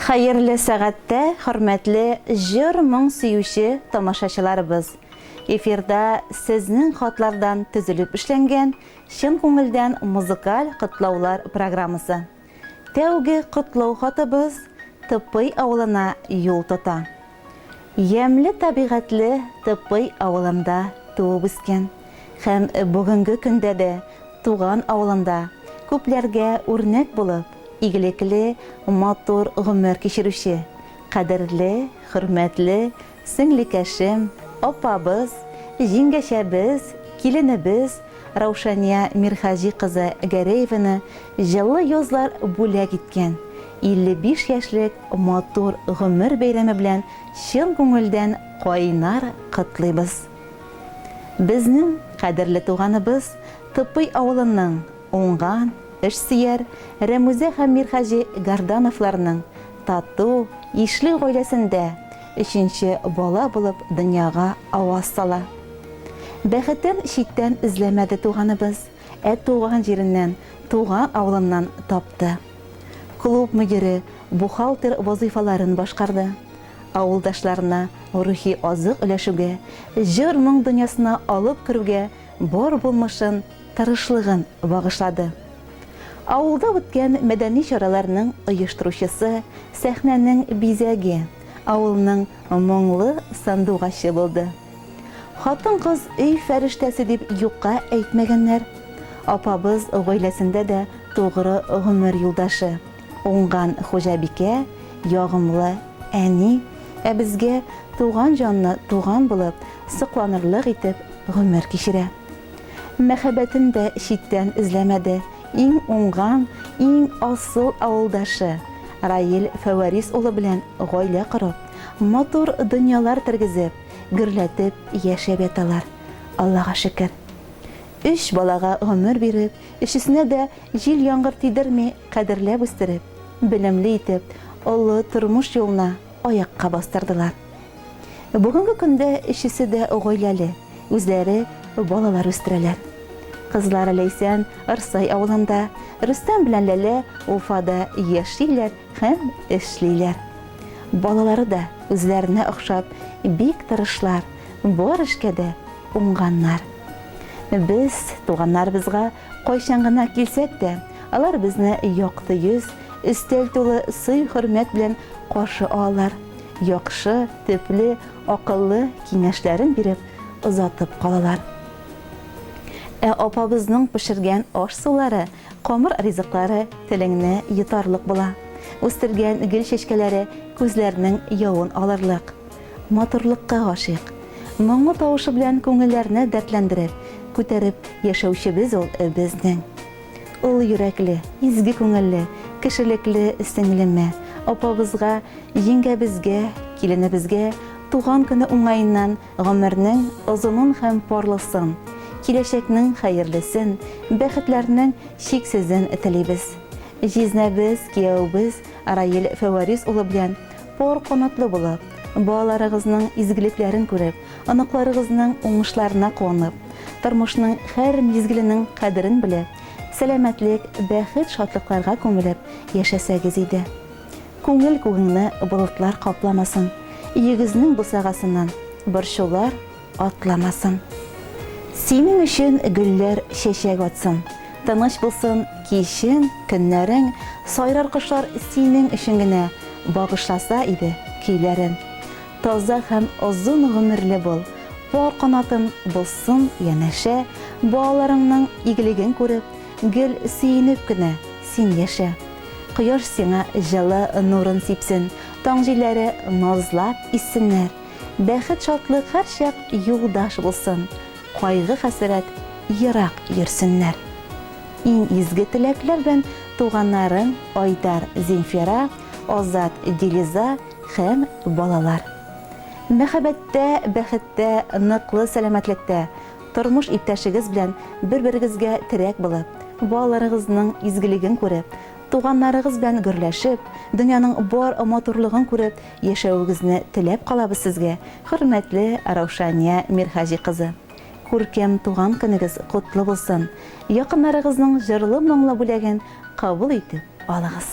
Хәерле сәгатьтә хөрмәтле җыр-моң сөюче тамашачыларыбыз! Эфирда сезнең хатлардан төзелеп эшләнгән Чын күңелдән музыкаль котлаулар программасы. Тәүге котлау хатыбыз Тыпый авылына юл тота. Ямьле табигатьле Тыпый авылында туып-үскән һәм бүгенге көндә дә туган авылында күпләргә үрнәк булып, игелекле, матур гомер кичерүче кадерле, хөрмәтле сеңлекәшем, апабыз, җиңгәчәбез, киленебез, Раушания Мирхаҗи кызы Гәрәеваны җылы язлар бүләк иткән 55 яшьлек матур гомер бәйрәме белән чын күңелдән кайнар котлыйбыз. Безнең кадерле туганыбыз Топый авылының уңган, эшсөяр Рәмүзә һәм Мирхаҗи Гардановларның тату, ишле гаиләсендә Өченче бала булып дөньяга аваз сала. Бәхетен читтән эзләмәде туганыбыз, ә туган җиреннән, туган авылыннан тапты. Клуб мөдире, бухгалтер вазыйфаларын башкарды. Авылдашларына рухи азык өләшүгә, җыр-моң дөньясына алып керүгә бар булмышын, тырышлыгын багышлады. Авылда үткән мәдәни чараларның оештыручысы, сәхнәнең бизәге, авылның моңлы сандугачы булды. Хатын-кыз өй фәрештәсе дип юкка әйтмәгәннәр. Апабыз гаиләсендә дә тугры гомер юлдашы, уңган хуҗабикә, ягымлы әни, ә безгә туган җанны туган булып, сокланырлык итеп гомер кичерә. Мәхәббәтен дә читтән эзләмәде. Иң уңган, иң асыл авылдашы Раил Фәварис улы белән гаилә корып, матур дөньялар тергезеп, гөрләтеп яшәп яталар, Аллага шөкер. Өч балага гомер биреп, өчесенә дә җил-яңгыр тидерми кадерләп үстереп, белемле итеп, олы тормыш юлына аякка бастырдылар. Бүгенге көндә өчесе дә гаиләле, үзләре балалар үстерәләр. Кызлары Ләйсән Арсай авылында, Рөстәм белән Ләлә Уфада яшиләр һәм эшлиләр. Балалары да үзләренә охшап, бик тырышлар, бар эшкә дә уңганнар. Без туганнарыбызга Кайчан гына килсәк тә, алар безне якты йөз, өстәл тулы сый-хөрмәт белән каршы алалар, яхшы, төпле, акыллы киңәшләрен биреп, озатып калалар. Ә апабызның пешергән аш-сулары, камыр ризыклары телеңне йотарлык була, үстергән гөл чәчкәләре күзләрнең явын алырлык. матурлыкка гашыйк. Моңлы тавышы белән күңелләрне дәртләндереп, күтәреп яшәүчебез ул безнең. Олы йөрәкле, изге күңелле, кешелекле сеңлемә, апабызга, җиңгәбезгә, киленебезгә туган көне уңаеннан гомернең озынын һәм парлысын, киләчәкнең хәерлесен, бәхетләрнең чиксезен телибез. Җизнәбез, кияүебез Раил Фәварис улы белән Пар канатлы булып, балаларыгызның изгелекләрен күреп, оныкларыгызның уңышларына куанып, тормышның һәр мизгеленең кадерен белеп, сәламәтлек, бәхет, шатлыкларга күмелеп яшәсәгез иде. Күңел күгеңне болытлар капламасын, өегезнең бусагасыннан борчулар, атламасын. Синең өчен гөлләр чәчәк атсын. Тыныч булсын кичен, көннәрең, Сайрар кошлар синең өчен генә, Багышласа иде көйләрен. Таза һәм озын гомерле бул, Пар канатың булсын янәшә, Балаларыңның игелеген күреп, Гел сөенеп кенә син яшә. Кояш сиңа җылы нурын сипсен, Таң җилләре назлап иссеннәр. Бәхет шатлык һәрчак юлдаш булсын, кайгы хәсрәт ерак йөрсеннәр. Иң изге теләкләр белән туганнарым Айдар Зинфира, Азат Дилиза һәм балалар. Мәхәббәттә, бәхеттә, ныклы сәламәтлектә, тормыш иптәшегез белән бер-берегезгә терәк булып, балаларыгызның изгелеген күреп, туганнарыгыз белән гөрләшеп, дөньяның бар матурлыгын күреп Яшәвегезне теләп калабыз сезгә, хөрмәтле Раушания Мирхаҗи кызы! Күркәм туган көнегез котлы булсын! Якыннарыгызның җырлы моңлы бүләген кабул итеп алыгыз!